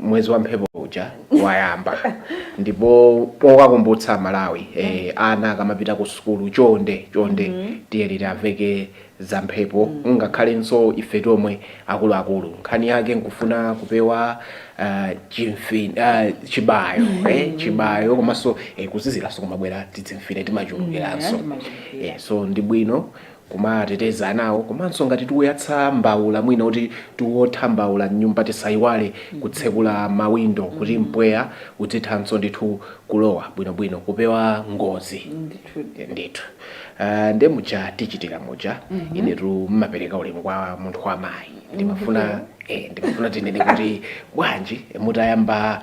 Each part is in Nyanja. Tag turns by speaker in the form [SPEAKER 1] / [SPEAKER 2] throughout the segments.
[SPEAKER 1] mwezi wa mphepo
[SPEAKER 2] uja wayamba ndipo pokakumbutsa malawi eh, ana akamapita ku sukulu chonde chonde tiyeni tiwaveke za mphepo ngakhalenso ife tomwe akuluakulu nkhani yake nkufuna kupewa ah, chimfi ah, chibayo eh, chibayo komanso eh, kuziziranso kumabwera tidzimfine timachulukiranso Yeah, timachulukira. Eh, so ndi bwino kumateteza anawo komanso ngati tikuyatsa mbaula mwina kuti tiwotha mbaula m'nyumba tisaiwale kutsekula mawindo kuti mpweya udzithanso ndithu kulowa bwinobwino kupewa ngozi Ndithudi. ndithu Ah, nde muja tichitira muja inetu ndimapereka ulemu kwa munthu wamayi ndimafuna eh, ndimafuna tinene kuti bwanji mutayamba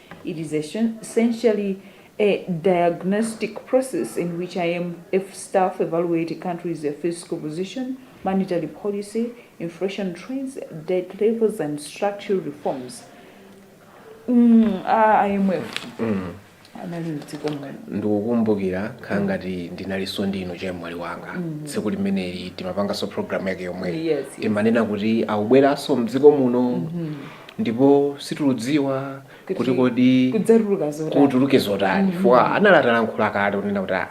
[SPEAKER 1] It is essentially a diagnostic process in which IMF staff evaluate a country's fiscal position, monetary policy, inflation trends, debt levels, and structural reforms. Mm, a IMF anali mdziko muno.
[SPEAKER 2] ndikukumbukira khala ngati ndinalinso ndinu chemwali wanga tsiku limeneli timapanganso programu yake yomweyo Yes, yes. timanena kuti akubweranso mdziko muno ndipo sitiludziwa kuti Kuti kodi kudzatuluka zotani kutuluke zotani chifukwa anali atalankhula kale kunena kuti aa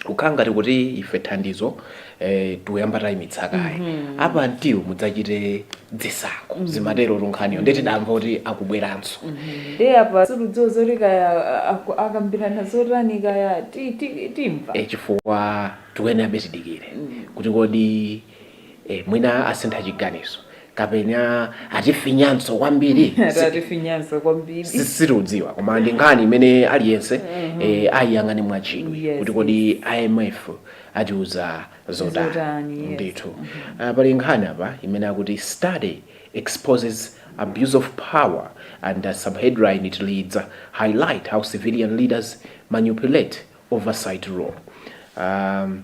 [SPEAKER 2] kukhala ngati kuti ife thandizo eh, tikuyamba tayimitsa kaye apa mtiwu mudzachite zisankho zimatero tunkhaniyo nde tidamva kuti akubweranso ndiye
[SPEAKER 1] apa sitiludziwa zoti kaya a- aku- akambirana zotani kaya ti- ti- timva Eh, chifukwa
[SPEAKER 2] tikuyenera tidikire kuti kodi Eh, mwina asintha chiganizo kapena atifinyanso kwambiri atatifinyanso kwambiri Si- sitiudziwa koma ndi nkhani imene aliyense eh, ayiyang'ane mwachidwi Yes, kuti kodi imf atiuza zotani Zotani, yes. ndithu Ah, pali nkhani apa imene akuti study exposes abuse of power and a subheadline it reads highlight how civilian leaders manipulate oversight role um,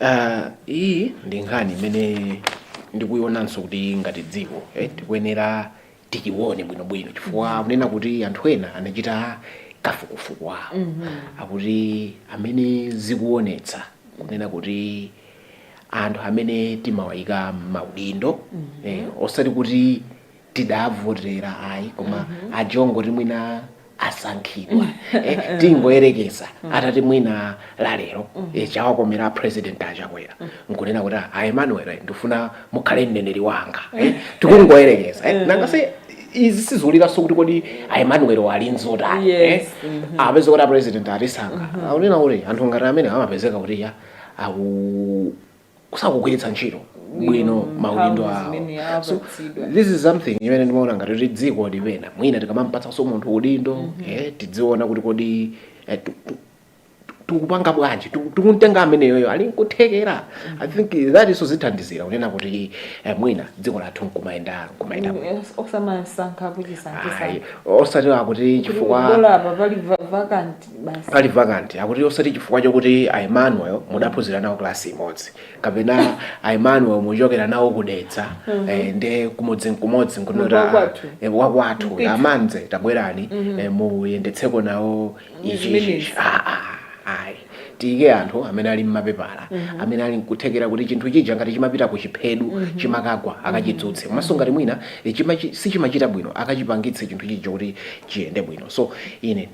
[SPEAKER 2] Uh, iyi ndi nkhani imene ndikuyionanso kuti ngati dziko eh, tikuyenera tichione bwinobwino chifukwa kunena kuti anthu ena anachita kafukufuku wawo akuti amene zikuonetsa kunena kuti anthu amene timawayika maudindo eh, osati kuti tidavotera ayi koma aja ongoti mwina asankhidwa eh, tingoyerekeza atati mwina lalero eh, chawakomera a president achakwera nkunena kuti "Ah, a emmanuel eh, ndifuna mukhale mneneri wanga eh, tikungoyerekeza eh, nanga si izi siziulikanso kuti kodi a emmanuel wali nzotani eh, Yes, apeze kuti a president atisankha akunena kuti anthu ngati amene amapezeka kuti ya aku kusakugwiritsa ntchito bwino maudindo awo so this is something imene ndimaona ngati kuti dziko li- pena mwina tikamampatsanso munthu udindo mm -hmm. eh, tidziona kuti kodi eh, tikupanga bwanji tikumtenga ameneyoyo ali nkuthekera i think that iso zithandizira kunena kuti eh, mwina dziko lathu nkumayenda nkumayenda mm,
[SPEAKER 1] osamasankha kuchisankisa osati akuti
[SPEAKER 2] chifukwa basi pali vacant akuti osati chifukwa chokuti a emmanuel mudaphunzira nawo klasi imodzi kapena a emmanuel muchokera nawo ku Dedza eh, nde kumodzi nkumodzi Munthu nkunota wakwathu. eh, wakwathu Mpithu. amanze tabwerani eh, muyendetseko nawo ichi Zimenezi. ichi Ah, ah, ayi tiyike anthu amene ali ndi mapepala amene ali nkuthekera kuti chinthu chija ngati chimapita ku chiphedu chimakagwa akachidzutse komanso ngati mwina eh, chimachi- sichimachita bwino akachipangitse chinthu chija kuti chiyende bwino so ine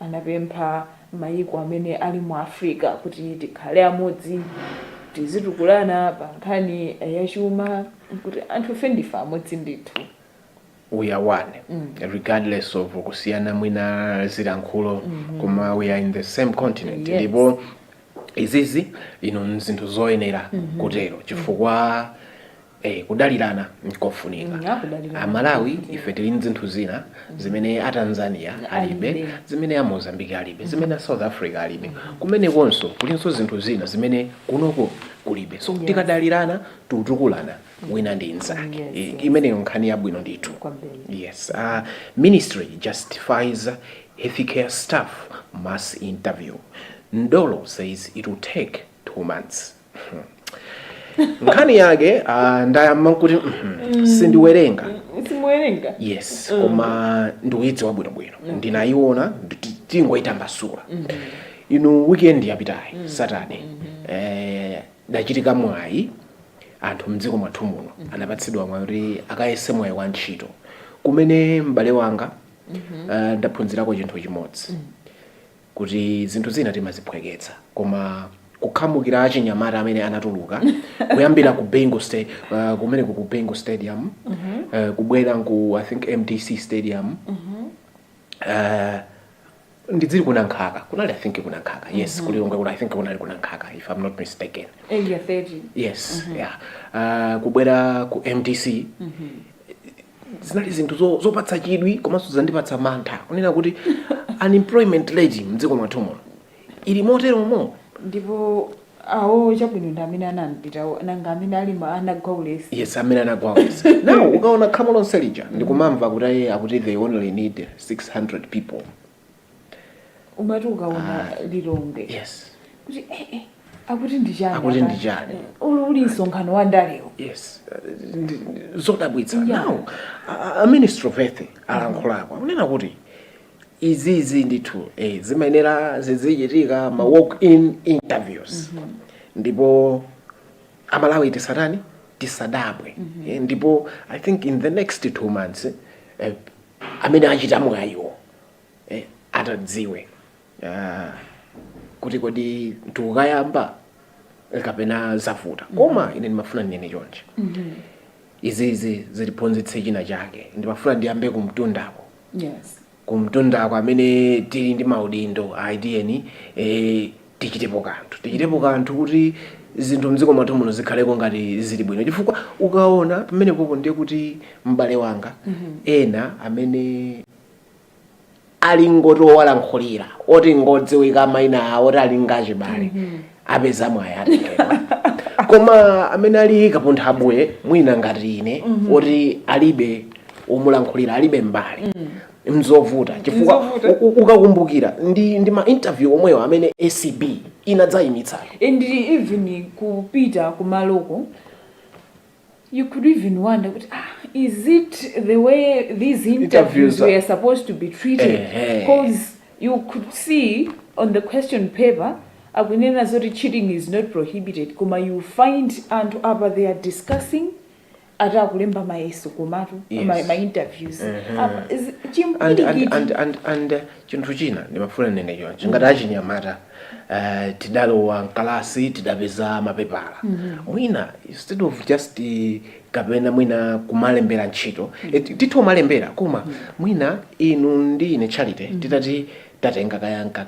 [SPEAKER 1] anapempha mayiko amene ali mu Africa kuti tikhale amodzi, tizitukulana pa nkhani ya chuma, kuti anthufe ndife amodzi ndithu. we
[SPEAKER 2] are one regardless of kusiyana mwina zilankhulo koma we are in the same continent Yes. ndipo izizi ndi zinthu zoyenera kutero chifukwa Eh, kudalirana nkofunika Mm, akudalirana. amalawi ife tili ndi zinthu zina zimene a tanzania alibe Alibe. zimene a mozambique alibe zimene a south africa alibe kumenekonso kulinso zinthu zina zimene kunoko kulibe so tikadalirana titukulana wina ndi mnzake Yes, I- yes. imeneyo nkhani yabwino ndithu Kwambiri. yes uh, ministry justifies healthcare staff mass interview ndolo says it will take two months nkhani yake ah, ndayamba kuti mhm, sindiwerenga
[SPEAKER 1] simuwerenga yes koma
[SPEAKER 2] ndikuyidziwa bwinobwino ndinayiona nditi- tingoyitambasula inu weekend yapitayi saturday eh, udachitika mwayi anthu mdziko mwathu muno anapatsidwa mwayi kuti akayese mwayi wa ntchito kumene m'bale wanga eh, ndaphunzirako chinthu chimodzi kuti zinthu zina timaziphweketsa koma kukhamukira achinyamata amene anatuluka kuyambira ku Bingu State uh, kumene ku Bingu Stadium mm -hmm. uh, kubwera ku I think MDC Stadium mm -hmm. uh, ndidziri ku Nankhaka kunali i think ku Nankhaka yes mm -hmm. ku Lilongwe kuna i think kunali ku Nankhaka if i'm not mistaken area 30 yes mm -hmm.
[SPEAKER 1] yeah
[SPEAKER 2] uh, kubwera ku mdc mm -hmm. zinali zinthu zo- zopatsa chidwi komanso zandipatsa mantha kunena kuti unemployment rate mdziko mwathu muno ili moteromo ndipo
[SPEAKER 1] awo chabwino ndi amene anapitawo nanga amene ali ma anagwa ulesi yes amene anagwa
[SPEAKER 2] ulesi now ukaona khamu lonse lija ndikumamva kuti ayi akuti they only need 600 people
[SPEAKER 1] umati ukaona Ah. lilongwe yes kuti
[SPEAKER 2] eh,
[SPEAKER 1] eh, akuti ndi chani Akuti apa? ndi chani? Eh,
[SPEAKER 2] uli uli msonkhano
[SPEAKER 1] wa ndalewo yes uh, ndi-
[SPEAKER 2] ndi- zodabwitsa Yeah. now a- a- a minister of health alankhulako akunena kuti izizi ndithu eh, zimayenera zizichitika ma walk in interviews ndipo amalawi tisatani tisadabwe Eh, ndipo i think in the next two months eh, amene achita mwayiwo eh, atadziwe uh, kuti kodi tikukayamba eh, kapena zavuta koma ine ndimafuna ndinene chonchi izizi zitiphunzitse china chake ndimafuna ndiyambe kumtundako
[SPEAKER 1] yes kumtundako
[SPEAKER 2] amene tili ndi maudindo ayi tiyeni eh, tichitepo kanthu tichitepo kanthu kuti zinthu mdziko mwathu muno zikhaleko ngati zili bwino chifukwa ukaona pamenepopo ndiye kuti m'bale wanga ena amene ali ngoti owalankhulira oti ngodziwika maina awo oti ali ndi achibale apeza mwayi atengedwa koma amene ali kapunthabuye mwina ngati ine oti alibe omulankhulira alibe m'bale mzovuta chifukwa Mzovuta. u- u- ukakumbukira ndi, ndi ma interview omwewo amene acb inadzayimitsa and
[SPEAKER 1] even kupita kumaloko you could even wonder kuti ah, is it the way these Interviews interviews are- were supposed to be treated Ehe. because you could see on the question paper akunena zoti cheating is not prohibited koma you find anthu apa they are discussing ati akulemba mayeso komatu Yes. ma, ma interviews Mhm. Apa, zi- and,
[SPEAKER 2] and, chimpwirikiti and, and, and uh, chinthu china ndimafuna ndinene choncho ngati achinyamata uh, tidalowa mkalasi tidapeza mapepala mwina instead of just uh, kapena mwina kumalembera ntchito Eh, ti- tithe kumalembera koma mwina inu ndi ine charity titati tatenga kaya nka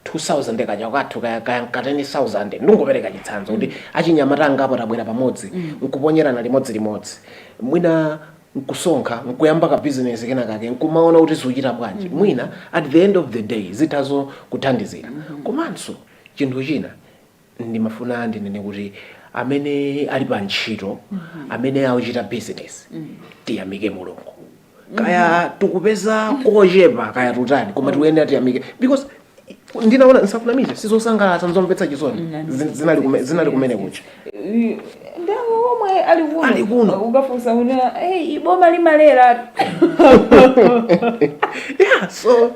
[SPEAKER 2] 2000 kaja kwathu kaya kaya nka 10000 ndingopereka chitsanzo kuti achinyamata angapo tabwera pamodzi nkuponyerana limodzi limodzi mwina nkusonkha nkuyamba ka business kena kake nkumaona kuti zikuchita bwanji mwina at the end of the day zitha zokuthandizira komanso chinthu china ndimafuna ndinene kuti amene ali pa ntchito amene akuchita business tiyamike mulungu kaya tikupeza kochepa kaya titani koma tikuyenera tiyamike because ndinaona nsakunamize sizosangalatsa nzomvetsa chisoni Zin- zinali kume- zinali kumene
[SPEAKER 1] kucha ndawo omwe ali kuno Ali kuno. ukafunsa
[SPEAKER 2] una
[SPEAKER 1] hey, iboma limalera
[SPEAKER 2] yeah so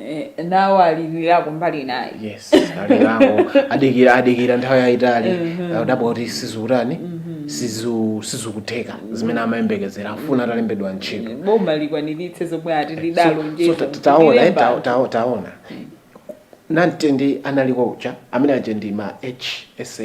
[SPEAKER 1] Eh, nawo alilira kumbali inayi yes
[SPEAKER 2] alirako adikira adikira nthawi yayitali adabwa kuti sizikutani sizu- sizikutheka zimene amayembekezera afuna atalembedwa ntchito boma
[SPEAKER 1] likwaniritse zomwe ati So- so lidalonjeza ta- taona
[SPEAKER 2] eh, ta- ta- taona namtindi analiko uja amene aja ndi ma hsa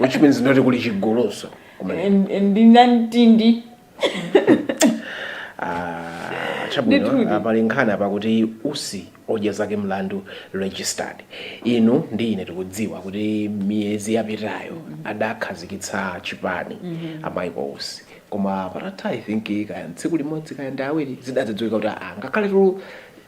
[SPEAKER 1] which
[SPEAKER 2] means ndekuti kuli chigulunso ndi namtindi Ah, chabwino Ndithudi. ah, pali nkhani apa kuti usi odya zake mlandu registered inu ndi ine tikudziwa kuti miyezi yapitayo adakhazikitsa chipani a michael usi koma patatha i think kaya tsiku limodzi kaya ndi awiri zidadzadziwika kuti ah, ngakhale tu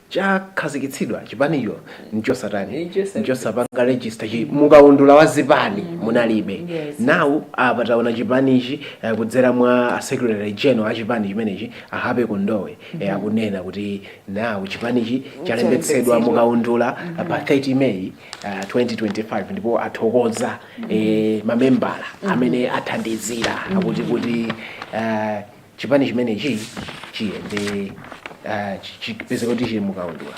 [SPEAKER 2] chakhazikitsidwa chipanicho nchosatani Nchosa- nchosapanga register chi mukaundula wa zipani munalibe Yes. now apa taona chipanichi eh, kudzera mwa a secretary general a chipani chimenechi a happy kondowe eh, akunena kuti now chipanichi chalembetsedwa mukaundula eh, pa 30 may eh, 2025 ndipo athokoza eh, mamembala amene athandizira akuti kuti eh, chipani chimenechi chiyende ah, chi- chipezeke kuti chili mukaundula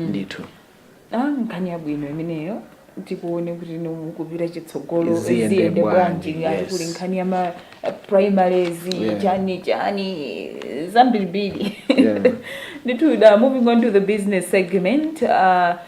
[SPEAKER 2] ndithu Ah, nkhani
[SPEAKER 1] yabwino imeneyo tikuone kuti now mukupita chitsogolo Ziyende ziyende bwanji, bwanji ngati yes. kuli nkhani ya ma eh, primaries Yeah. chani chani zambirimbiri Yeah. ndithu da moving on to the business segment uh,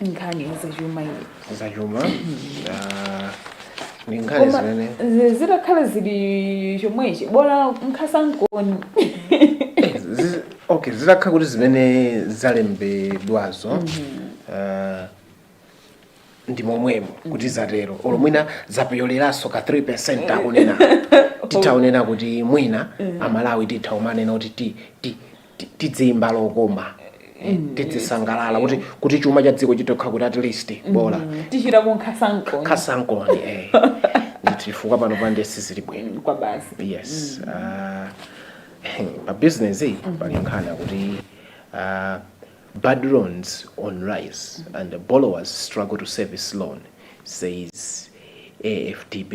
[SPEAKER 1] nkhani zachuma iyi
[SPEAKER 2] zachuma ah, ndi nkhani Koma zimene zi- zitakhala
[SPEAKER 1] zili chomwechi bola nkhasankoni Eh, zi-
[SPEAKER 2] okay zitakhala kuti zimene zalembedwazo ah, ndi momwemo kuti zatero olo mwina zapyoleranso ka 3 percent akunena titha kunena kuti mwina amalawi titha umanena kuti ti ti ti- tidziimba lokoma eh, tidzisangalala kuti kuti chuma cha dziko chitokha kuti at least bola tichita kuti
[SPEAKER 1] nkhasankoni nkhasankoni
[SPEAKER 2] eh. ndithu chifukwa panopa nde sizili bwino kwa basi yes ah, pa business iyi pali nkhani kuti ah, bad loans on rise and the borrowers struggle to service loan says afdb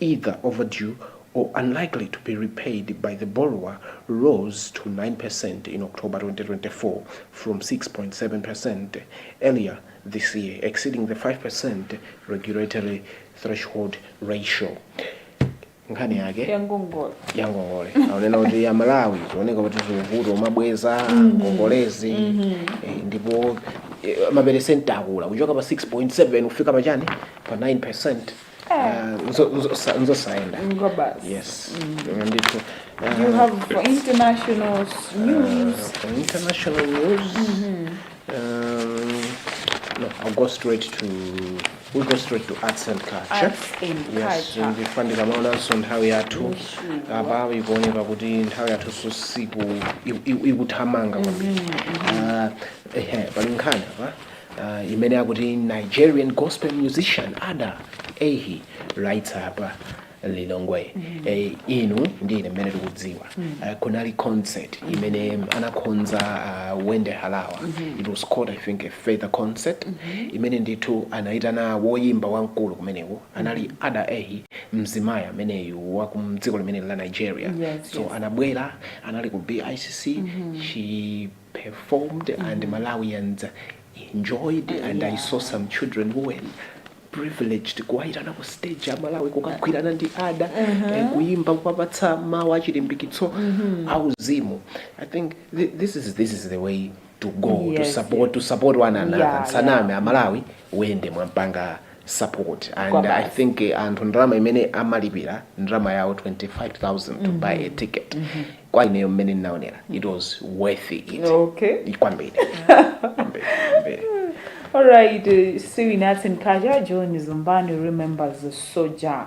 [SPEAKER 2] either overdue or unlikely to be repaid by the borrower rose to 9% in October 2024 from 6.7% earlier this year, exceeding the 5% regulatory threshold ratio. nkhani yake yangongole yangongole akunena kuti amalawi zikuoneka kuti zikuvuta umabweza ngongolezi eh, ndipo eh, maperesenti akula kuchoka pa 6.7 kufika pachani pa 9 nzosayenda kwabasi yes Ine ndithu
[SPEAKER 1] eh, you have for international s- news for international
[SPEAKER 2] news um, no i'll go straight to we go straight to arts and culture Arts and yes
[SPEAKER 1] culture. chifukwa
[SPEAKER 2] ndikamaonanso nthawi yathu apa ikuoneka kuti nthawi yathu sosiku ikuthamanga kwambiri Ah, ehe pali nkhani apa uh, imene akuti nigerian gospel musician ada ehi lights up lilongwe eh, inu ndi ine mmene tikudziwa Eh, kunali concert imene anakonza uh, wendy harawa it was called i think a feather concert imene ndithu anayitana woyimba wamkulu kumeneko anali ada ehi mzimayi ameneyu wa kumdziko limene la nigeria Yes, so yes. anabwera anali ku bicc she performed and Malawians enjoyed and I saw some children who were privileged kuwayitana ku stage a Malawi kukagwirana ndi ada eh, kuyimba kuwapatsa mawu achilimbikitso auzimu I think thi- this is, this is the way to go to Yes, support, to support one another Yeah, nsaname a Malawi Wendy mwampanga support and Kwabasi. i think eh, anthu ndalama imene amalipira ndalama yawo 25000 to buy a ticket kwa ineyo mmene ndinaonera it was worth it Okay. kwambiri Kwambiri,
[SPEAKER 1] kwambiri. Alright, uh, still in arts and culture, Johnny Zembani remembers the soldier.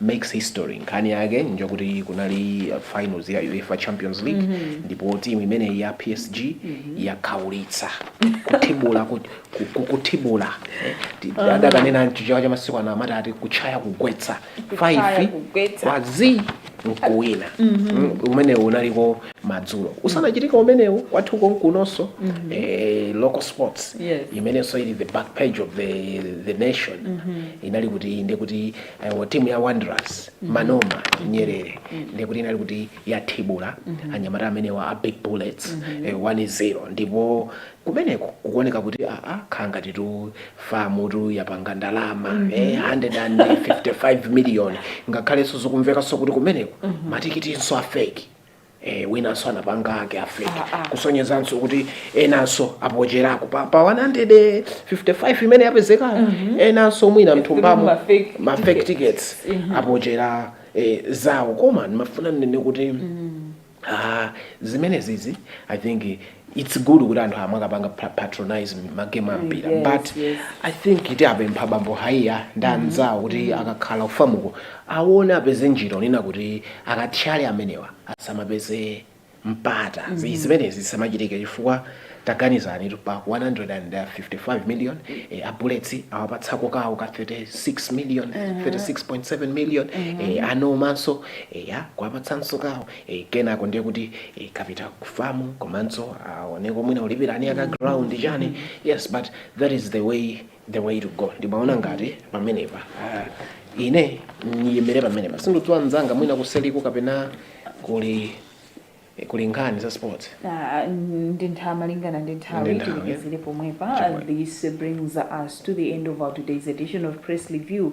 [SPEAKER 2] makes history nkhani yake njokuti kunali finals ya UEFA Champions League mm -hmm. ndipo team imeneyi ya PSG mm -hmm. yakhaulitsa kuthibula kuthibula uh-huh. adakanena chichewa cha masiku ano amati ati kutchaya kugwetsa 5 kwa z nkuwina mm-hmm. mm -hmm. umenewu unaliko madzulo usanachitika umenewu kwathu konkunonso mm -hmm. eh, local sports yes. imenenso ili the back page of the, the nation mm -hmm. inali kuti inde kuti Iwo timu ya Wanderers Manoma Nyerere ndiye kuti inali kuti yathibula anyamata amenewa a Big Bullets eh, 1-0 ndipo kumeneko kukuoneka kuti aa khala ngatitu FAM tu yapanga ndalama eh, 155 million ngakhalenso zikumvekanso kuti kumeneko matikitinso afeki Eh, winanso anapanga ake afeki ah, ah. kusonyezanso kuti enanso apocherako pa, pa 155 imene yapezeka mm -hmm. enanso mwina mthumbamo mafake tickets mm -hmm. apochera eh, zawo koma ndimafuna ndinene kuti mm -hmm. ah, zimenezizi i think its good kuti anthu amakapanga pa- patronize ma game a mpira yes, but yes. i think tiwapempha bambo Haiya ndi anzawo kuti akakhala ku FAM-ko awone apeze njira onena kuti akathyale amenewa asamapeze mpata Zi- zimenezi zisamachitike chifukwa taganizani tu pa 155 million eh, a Bullets awapatsako kawo ka 36 million 36.7 million eh, anomanso eya kuwapatsanso kawo e kenako ndiye kuti e, kapita ku FAM komanso aoneko mwina ulipirani aka ground chani yes but that is the way the way to go ndimaona ngati pamenepa ah, ine ndiyimire pamenepa sindidziwa mzanga mwina kuseriku kapena kuli eh, kuli nkhani za sports Ah, ndi nthawi malingana ndi Ndi nthawi nthawi. tilekezere
[SPEAKER 1] pomwepa Chomwe. this brings us to the end of our today's edition of press review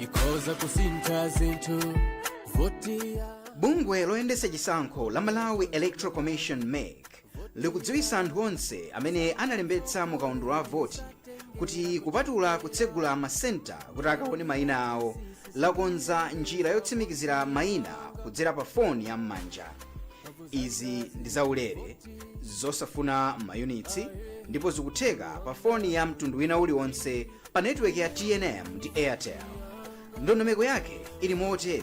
[SPEAKER 3] ikhoza kusintha zinthu voti. Bungwe loyendetsa chisankho la malawi electoral commission mec likudziwitsa anthu onse amene analembetsa mu kaundula wa voti kuti kupatula kutsegula masenta kuti akaone mayina awo lakonza njira yotsimikizira mayina kudzera pa foni ya m'manja izi ndi zaulere zosafuna mayunitsi ndipo zikutheka pa foni ya mtundu wina uliwonse pa netiweki ya tnm ndi airtel ndondomeko yake ili motere